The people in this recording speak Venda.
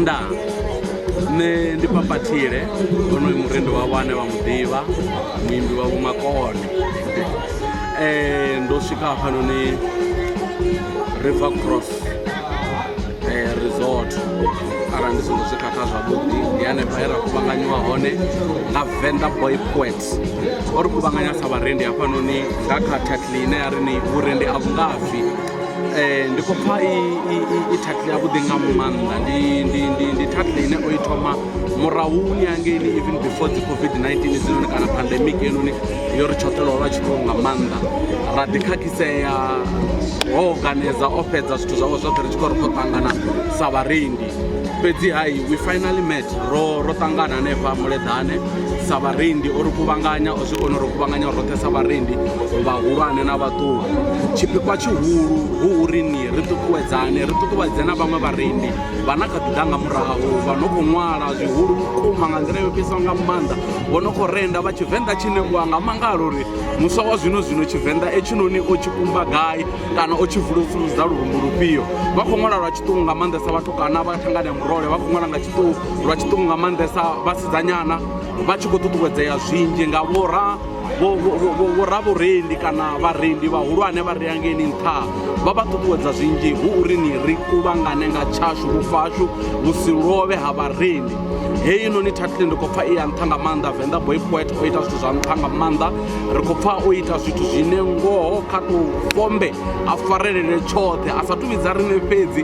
nda nṋe ndi papathile onoyu murendi wa vhane vha muḓivha muimbi wa vhumakone um ndo swika hafhanoni river cross eh, resort arali ndi songo zwikhakha zwavhuḓi ndi hanefha he ra kuvhanganyiwa hone nga venda boy poet o ri kuvhanganya sa vharendi hafhanoni nga kha tatli ine ya ri ni vhurendi a vhungafhi Eh, ndi khou pfa i tattle yavhuḓi nga maanḓa ndi tattle ine o i thoma murahuni angeini even before dzi covid-19 dzinoni kana pandemic enoni yo ri tshoṱhelwa lwa tshiṱuku nga maanḓa ra ḓikhakhitsea ho organiza o fhedza zwithu zwawe zwoṱhe ri tshi khou ri khou ṱangana sa vharendi fhedzi hai we finally met ro ro ṱangana hanefha muleḓane sa vharendi o ri kuvhanganya zwi kone uri kuvhanganya roṱhe sa vharendi vhahulwane na vhaṱuku tshipikwa tshihulu hu uri ni ri ṱuṱuwedzane ri ṱuṱuwedze na vhaṅwe vharendi vha na kha ḓi ḓa nga murahu vha no khou ṅwala zwihulu vhukuma nga nḓila yo fhisaho nga maanḓa vho no khou renda vha tshivenḓa tshi ṋewa nga mangalo uri muswa wa zwino zwino tshivenḓa etshinoni o tshi kumba gai kana o tshi vulusuludza lurumbu lufhio vha khou ṅwala lwa tshiṱuku nga maanḓesa vhathu kana vha thangane murole vha khou ṅwala nga tshiṱuku lwa tshiṱuku nga maanḓesa vhasidzanyana vha tshi khou ṱuṱuwedzea zwinzhi nga vhora vhoravhurendi kana vharendi vhahulwane vha rea ngeni nṱha vha vha ṱuṱuwedza zwinzhi hu uri ni ri kuvhangane nga tshashu vhufashu vhu si lovhe ha vharendi heyi noni thathile ndi khou pfa i ya nṱha nga maanḓa venḓa boy poet o ita zwithu zwa nṱha nga maanḓa ri khou pfa o ita zwithu zwine ngoho kha tou fombe a farelele tshoṱhe a sa tuvhidza riṋe fhedzi